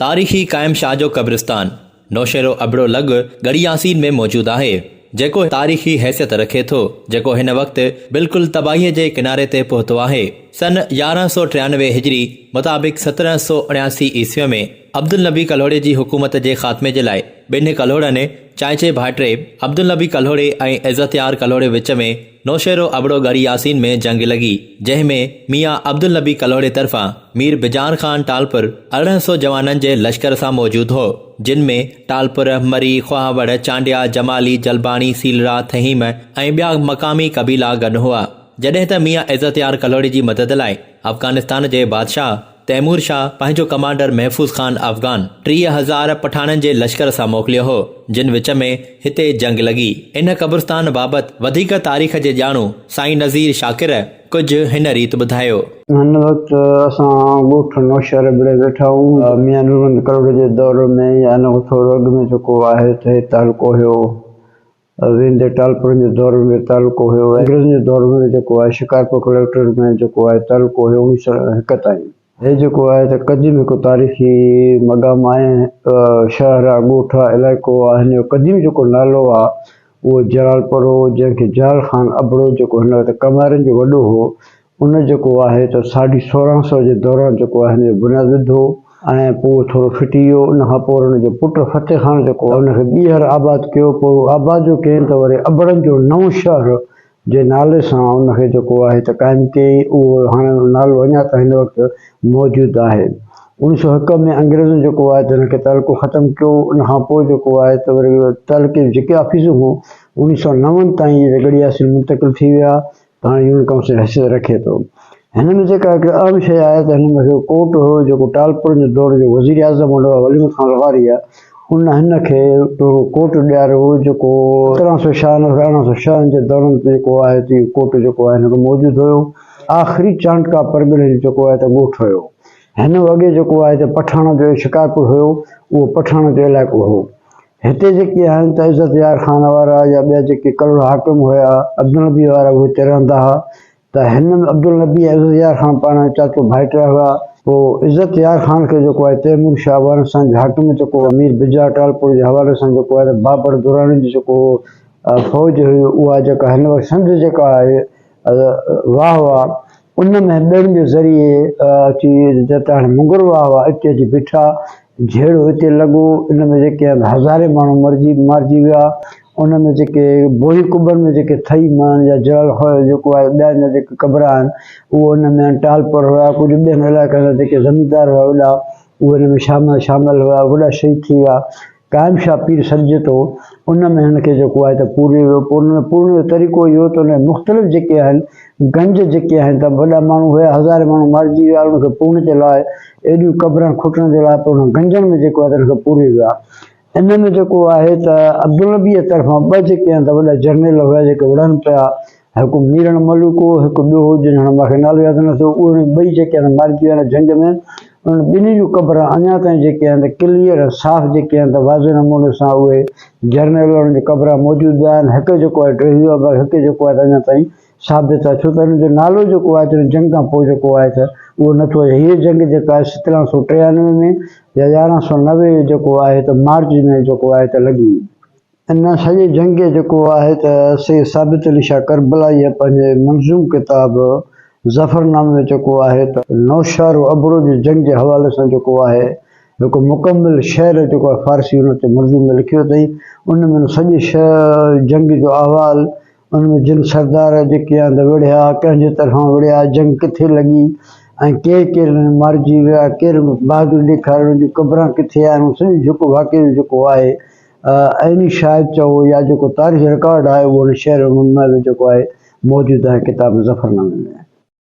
تاريخي قائم شاهه جو قبرستان نوشهرو ابڙو لڳ ڳڙهي ياسين ۾ موجود آهي، جيڪو تاريخي حيثيت رکي ٿو، جيڪو هن وقت بلڪل تباهيء جي ڪناري تي پهتو آهي. سن يارهن سؤ ٽيانوي هجري مطابق سترهن سؤ اڻياسي عيسويء ۾ عبدالنبي ڪلهوڙي جي حڪومت جي خاتمي جي لاء ٻنهي ڪلهوڙن، چانئچي ڀائٽري، عبدالنبي ڪلهوڙي ۽ عزتيار ڪلهوڙي وچ ۾، نوشهرو ابڙو ڳڙهه ياسين ۾ جنگ لڳي، جنهن ۾ ميان عبدالنبي ڪلهوڙي طرفان مير بجان خان ٽالپر ارڙهن سئو جوانن جي لشڪر سان موجود هو، جن ۾ ٽالپر، مري، خواهوڙ، چانڊيا، جمالي، جلباڻي، سيلرا، ٿهيم ۽ ٻيا مقامي قبيلا گڏ هئا. جڏهن ته ميان عزتيار ڪلهوڙي جي مدد لاء افغانستان جي بادشاهه، تيمور شاهه پنهنجو ڪمانڊر محفوظ خان افغان ٽيهه هزار پٺاڻن جي لشڪر سان موڪليو هو، جن وچ ۾ هتي جنگ لڳي. ان قبرستان بابت وڌيڪ تاريخ جي ڄاڻو سائين نذير شاڪر ڪجهه هن ريت ٻڌايو. هن وقت اسان ڳوٺ نوشهره ڀڙي ويٺا هئون. ميان نورمحمد ڪروڙ جي دور ۾ يا ان کان ٿورو اڳ ۾ جيڪو آهي ته هي تعلقو هيو. وين دي ٽالپرن جو دور ۾ به تعلقو هيو ۽ انگريزن جي دور ۾ به جيڪو آهي شڪارپور ڪليڪٽريٽ ۾ جيڪو آهي تعلقو هيو اڻويهه سؤ هڪ تائين. هي جيڪو آهي ته قديم هڪ تاريخي مقام آهي. شهر آ ڳوٺ آ علائقو آ هن جو قديم جيڪو نالو آ اهو جلالپور هو جنهن کي جلال خان ابڙو جيڪو هن وقت ڪنوارين جو وڏو هو ان جيڪو آهي ته ساڍي سورهن سئو جي دوران جيڪو آهي ان جو بنياد وڌو ۽ پوء اهو ٿورو ڦٽي ويو ان کان پوء وري ان جو پٽ فتح خان جيڪو آهي ان کي ٻيهر آباد ڪيو پوء اهو آباد جو ڪيائين ته وري ابڙن جو نئون شهر جي نالي سان ان کي جيڪو آهي ته قائم ڪيائين اهو هاڻي اهو نالو اڃا تائين هن وقت موجود آهي اوڻيهه سئو هڪ ۾ انگريزن جيڪو آهي ته ان کي تعلقو ختم ڪيو ان کان پوء جيڪو آهي ته وري تعلقي جون جيڪي آفيسون هيون اوڻيهه سئو نون تائين اهي جڳڙي آفيسون منتقل ٿي ويا هاڻي يونين ڪائونسل حيثيت رکي ٿو. هن ۾ جيڪا هڪ اهم شيء آهي ته هن ۾ هڪ ڪوٽ هو جيڪو ٽالپر جي دور جو وزير اعظم هوندو هو ولي محمد خان لغاري ان هن کي اهو ڪوٽ ڏياريو هو جيڪو سترهن سؤ ڇهانوي کان ارڙهن سؤ ڇهن جي دورن تي جيڪو آهي ته اهو ڪوٽ جيڪو آهي هن کي موجود هيو آخري چانڊڪا پرڳڻي جو جيڪو آهي ته ڳوٺ هيو هن اڳي جيڪو آهي ته پٺاڻن جو شڪارپور هيو اهو پٺاڻن جو علائقو هو هتي جيڪي آهن ته عزت يار خان وارا يا ٻيا جيڪي ڪلهوڙا حاڪم هيا عبدالنبي وارا اهي هتي رهندا ها ته هن ۾ عبدالنبي ۽ عزت يار خان پاڻ ۾ چاچو ڀائٽيا هيا. پوء عزت يار خان کي جيڪو آهي تيمور شاهه وارن سان جي حاڪم جيڪو هو مير بجاء ٽالپور جي حوالي سان جيڪو آهي ته بابر دراني جي جيڪو هو فوج هئي اها جيڪا هن وقت سنڌ جيڪا آهي واهه واهه ان مهين ٻيڙن جي ذريعي اچي جتي هاڻي مڱر واهه واهه اتي اچي بيٺا جهيڙو اتي لڳو ان ۾ جيڪي هزارين ماڻهو مرجي مارجي ويا ان ۾ جيڪي بوهي قبرن ۾ جيڪي ٿئي ماڻهن جا جڙل هئا جيڪو آهي ٻيا جا جيڪي قبرا آهن اهو ان ۾ ٽال پر هئا ڪجهه ٻين علائقن جا جيڪي زميندار هئا وڏا اهي ان ۾ شامل شامل هئا وڏا شهيد ٿي ويا قائم شاهه پير سڏجي ٿو، ان ۾ هن کي جيڪو آهي ته پورهيو ويو، پوء ان ۾ پورهڻ جو طريقو اهو هو ته ان جا مختلف جيڪي آهن گنج جيڪي آهن ته وڏا ماڻهو هيا، هزارين ماڻهو مارجي ويا، ان کي پورهڻ جي لاء ايڏيون قبرن کوٽڻ جي لاء پوء انهن گنجن ۾ جيڪو آهي ته ان کي پورهيو ويو آهي. ان ۾ جيڪو آهي ته عبدالنبيء طرفان ٻه جيڪي آهن ته وڏا جرنيل هيا جيڪي وڙهن پيا، هڪ ميرڻ ملوڪ هو، هڪ ٻيو هو، جنهن هاڻي مان کي نالو ياد نه ٿو، اهي ۽ ٻئي جيڪي آهن مارجي ويا آهن جنگ ۾، انهن ٻنهي جون قبرون اڃا تائين جيڪي آهن ته ڪليئر ۽ صاف جيڪي آهن ته واضح نموني سان اهي جرنيل انهن جون قبرون موجود به آهن، هڪ جيڪو آهي ٽيهو آهي باقي هڪ جيڪو آهي ته اڃا تائين ثابت آهي، ڇو ته انهن جو نالو جيڪو آهي ته جنگ کان پوء جيڪو آهي ته اهو نه ٿو اچي، هيء جنگ جيڪا آهي سترهن سؤ ٽيانوي ۾ يا يارهن سؤ نوي جيڪو آهي ته مارچ ۾ جيڪو آهي ته لڳي. ان سڄي جنگ جيڪو آهي ته سيد ثابت علي شاهه ڪربلائيء پنهنجي منظوم ڪتاب ظفرنامي ۾ جيڪو آهي ته نوشهر و ابڙو جي جنگ جي حوالي سان جيڪو آهي هڪ مڪمل شعر جيڪو آهي فارسي ان تي منظوم ۾ لکيو اٿئي ان ۾ سڄي جنگ جو احوال ان ۾ جن سردار جيڪي آنده وڙهيا، ڪنهن جي طرفان وڙهيا، جنگ ڪٿي لڳي ۽ ڪير ڪير ان ۾ مارجي ويا، ڪير بهادري ڏيکاري، ان جون قبران ڪٿي آهن، ان سڄي جيڪو واقعي جو جيڪو آهي عيني شاهد چئو يا جيڪو تاريخي رڪارڊ آهي اهو ان شعر ۽ نظم ۾ جيڪو آهي موجود آهي ڪتاب ظفرنامي ۾.